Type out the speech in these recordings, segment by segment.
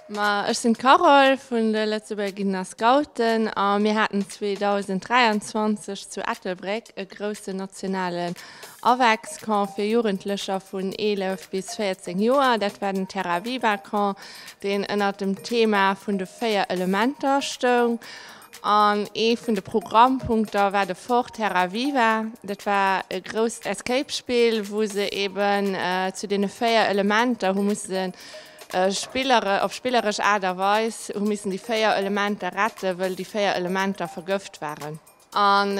Ma ech sinn d'Carole vun de Lëtzebuerger Guiden a Scouten a mir haten 2023 zu Ettelbréck e groussen nationalen AvEx-Camp fir Jugendlecher vun 11 bis 14 Joer. Dat war den Terra Viva Camp, deen ënnert dem Thema vun de véier Elementer stoung. An ee vun de Programmpunkter war de Fort Terra Viva. Dat war e grousst Escape-Spill, wou se eben zu deene véier Elementer hu mussen, op spilleresch Aart a Weis hu missen déi véier Elementer retten, wëll déi véier Elementer vergëft waren. An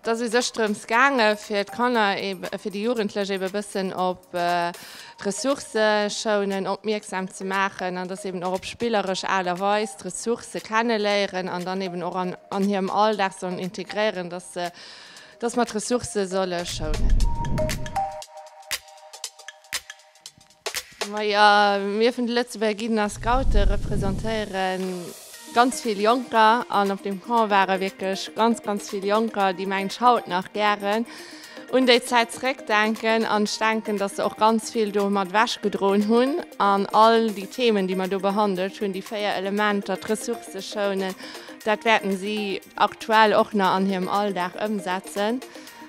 Et ass u sech drëms gaange fir d'Kanner, fir déi Jugendlech eeben e bëssen op d'Ressourcëschounen opmierksam ze maachen an dass eeben och op spilleresch Aart a Weis d'Ressourcë kenneléieren an dann eeben och an hirem Alldag sollen integréieren, dass se, dass mer d'Ressourcë solle schounen. Majo, mir vun de Lëtzebuerger Guiden a Scoute representéiere ganz vill Jonker an op dem Camp ware wierklech ganz, ganz vill Jonker, déi mengen ech haut nach gären un déi Zäit zeréckdenken. An ech denken, datt se och ganz vill do mat ewech gedroen hunn an all déi Themen, déi mer do behandelt hunn, déi véier Elementer, d'Ressourcë schounen, dat wäerten si aktuell och nach an hirem Alldag ëmsetzen.